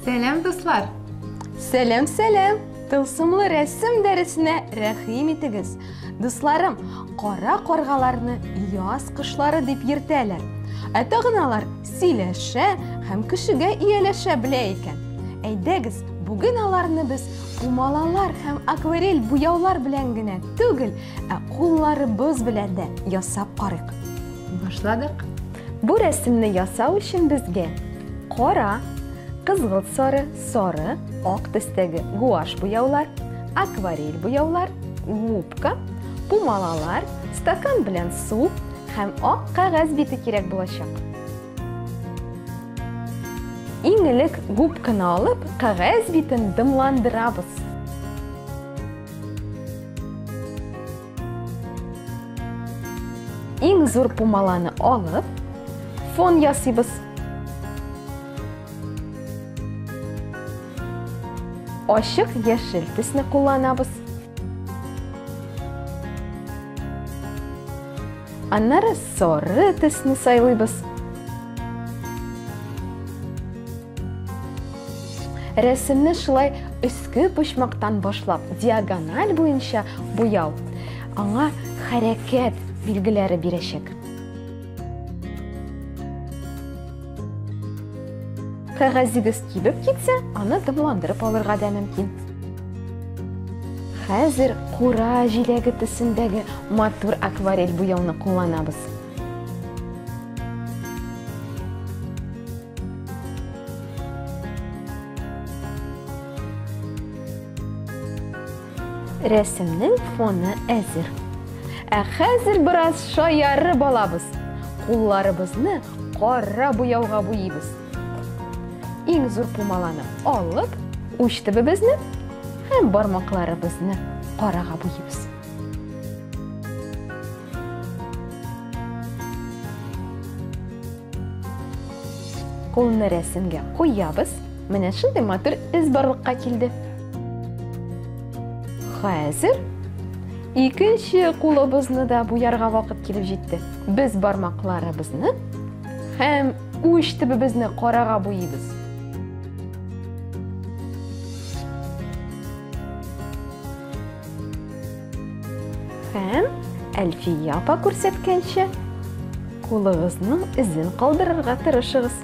Сәләм, дуслар! Сәләм, сәләм! Тылсымлы рәсем дәресенә рәхим итегез. Дусларым, кара каргаларны яз кышлары дип йөртәләр. Ә тагын алар сөйләшә һәм кешегә ияләшә белә икән. Әйдәгез, бүген аларны без Пумалалар һәм акварель буяулар белән генә түгел, ә кулларыбыз белән дә ясап карыйк. Башладык. Бу рәсемне ясау өчен безгә кара, кызгылт сары, сары, ак төстәге гуаш буяулар, акварель буяулар, губка, пумалалар, стакан белән су һәм ак кәгазь бите кирәк булачак. Иң элек губканы алып, кәгазь битен дымландырабыз. Иң зур пумаланы алып, фон ясыйбыз. Ашык яшел төсне кулланабыз. Аннары соры төсне сайлыйбыз. Рәсемне шулай өске почмактан башлап, диагональ буенча буяу аңа хәрәкәт билгеләре бирәчәк. Кәгазегез кибеп китсә, аны дымландырып алырга да мөмкин. Хәзер кура җиләге төсендәге матур акварель буяуны кулланабыз. Рәсемнең фоны әзер. Ә хәзер бераз шаярып алабыз. Кулларыбызны кара буяуга буйыйбыз. Иң зур пумаланы алып, уч төбебезне һәм бармакларыбызны карага буйыйбыз. Кулны рәсемгә куябыз. Менә шундый матур эз барлыкка килде. Хәзер икенче кулыбызны да буярга вакыт килеп җитте. Без бармакларыбызны һәм уч төбебезне карага буйыйбыз. Һәм Әлфия апа күрсәткәнчә, кулыгызның эзен калдырырга тырышыгыз.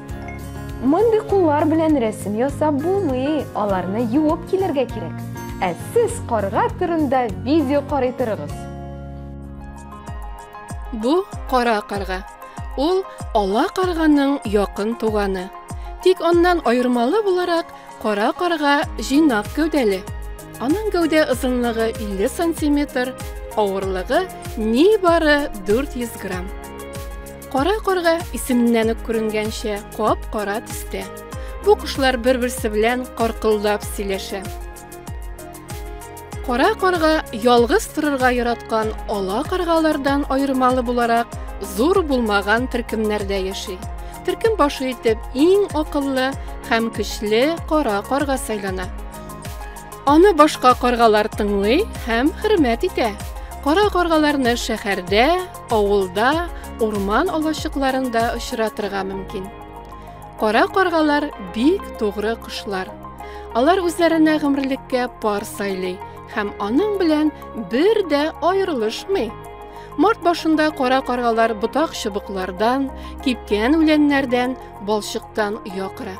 Мондый куллар белән рәсем ясап булмый, аларны юып килергә кирәк. Ә сез карга турында видео карый торыгыз. Бу кара карга. Ул ала карганың якын туганы. Тик аннан аермалы буларак, Кара карга җыйнак гәүдәле. Аның гәүдә озынлыгы 50 сантиметр, авырлыгы нибары 400 грамм. Кара карга исеменнән үк күренгәнчә кап-кара төстә. Бу кошлар бер-берсе белән каркылдап сөйләшә. Кара карга ялгыз торырга яраткан ала каргалардан аермалы буларак зур булмаган төркемнәрдә яши. Төркем башы итеп иң акыллы һәм көчле кара карга сайлана. Аны башка каргалар тыңлый һәм хөрмәт итә. Кара каргаларны шәһәрдә, авылда, урман алачыкларында очратырга мөмкин. Кара каргалар бик тугры кошлар. Алар үзләренә гомерлеккә пар сайлый һәм аның белән бер дә аерылышмый. Март башында кара каргалар ботак чыбыклардан, кипкән үләннәрдән, балчыктан оя кыра.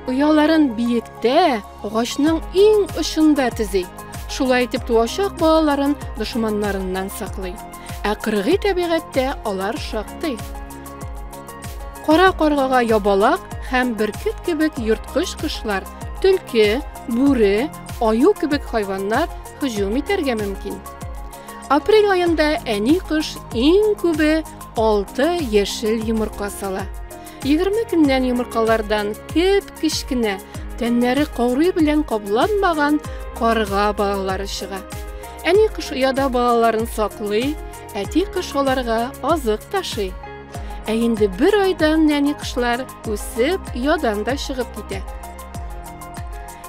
Ояларын биектә, агачның иң очында төзи. Шулай итеп туачак балаларын дошманнарыннан саклый. Ә кыргый табигатьтә алар шактый. Кара каргага ябалак һәм бөркет кебек йорткыч кошлар, төлке, бүре, аю кебек хайваннар һөҗүм итәргә мөмкин. Апрель аенда әни кош иң күбе 6 яшел йомырка сала. 20 көннән йомыркалардан кеп кечкенә, тәннәре коры белән капланмаган карга балалары чыга. Әни кош ояда балаларын саклый, Әти кош аларга азык ташый. Ә инде бер айдан нәни кошлар үсеп, ядан да чыгып китә.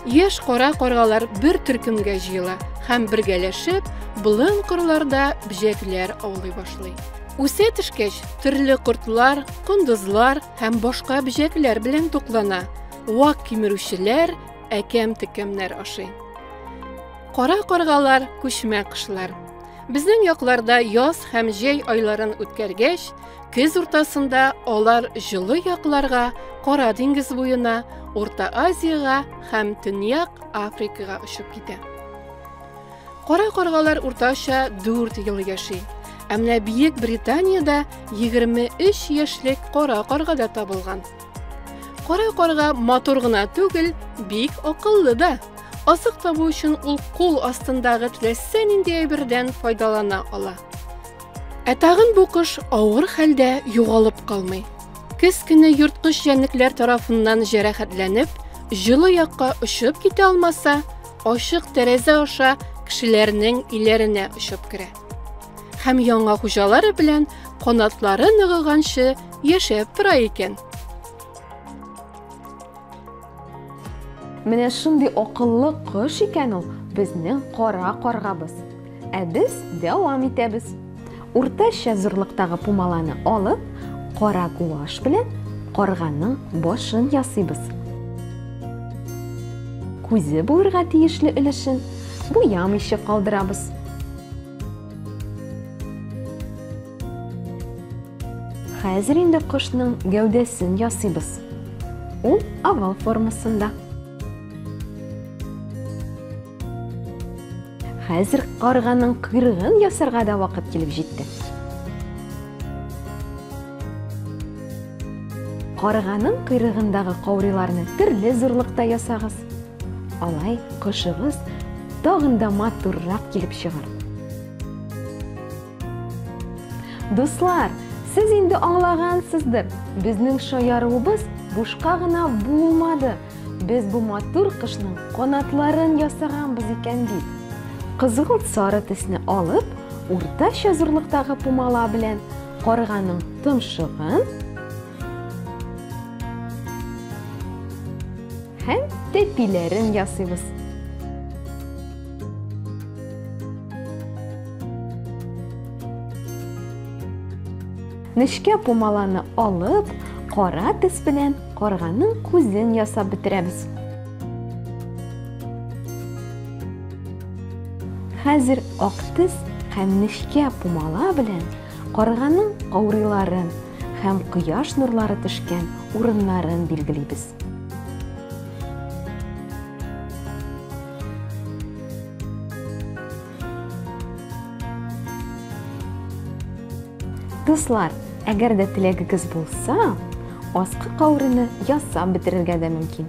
Яшь кара каргалар бер төркемгә җыела һәм бергәләшеп, болын кырларда бҗәкләр аулый башлый. Үсә төшкәч, төрле кортлар, кондызлар һәм башка бҗәкләр белән туклана. Вак кимерүчеләр әкәм-текәмнәр ашый. Кара каргалар күчмә кышлар. Безнең якларда яз һәм җәй айларын үткәргәч, көз уртасында алар җылы якларга, Кара диңгез буена, Урта Азиягә һәм Төньяк Африкага очып китә. Кара каргалар уртача 4 ел яши. Ә менә Бөек Британиядә 23 яшьлек кара карга да табылган. Кара карга матур гына түгел, бик акыллы да. Азык табу өчен ул кул астындагы теләсә нинди әйбердән файдалана ала. Ә тагын бу кош авыр хәлдә югалып калмый. Кез көне йорткыч җәнлекләр тарафыннан җәрәхәтләнеп, җылы якка очып китә алмаса, ачык тәрәзә аша кешеләрнең иләренә очып керә. Һәм яңа хуҗалары белән канатлары ныгыганчы Яшәп тора икән. Менә шундый акыллы кош икән ул безнең кара каргабыз. Ә без дәвам итәбез. Уртача зурлыктагы пумаланы алып, кара гуаш белән карганың башын ясыйбыз. Күзе булырга тиешле өлешен буямыйча калдырабыз. Хәзер инде кошның гәүдәсен ясыйбыз. Ул овал формасында. Хәзер карганың кырыгын ясарга да вакыт килеп җитте. Карганың кырыгындагы кауриларны төрле зурлыкта ясагыз. Алай кошыгыз тагын да матуррак килеп чыгар. Дуслар, сез инде аңлагансыздыр, безнең шаярыуыбыз бушка гына булмады. Без бу матур кышның канатларын ясаганбыз икән бит. Кызгылт сары төсне алып, уртача зурлыктагы пумала белән карганың томшыгын һәм тәпиләрен ясыйбыз. Нечкә пумаланы алып, кара тез белән карганың күзен ясап бетерәбез. Хәзер ак тез һәм нечкә пумала белән карганың каурыйларын һәм кояш нурлары төшкән урыннарын билгелибез. Дуслар, әгәр дә теләгегез булса, аскы каурыны ясап бетерергә дә мөмкин.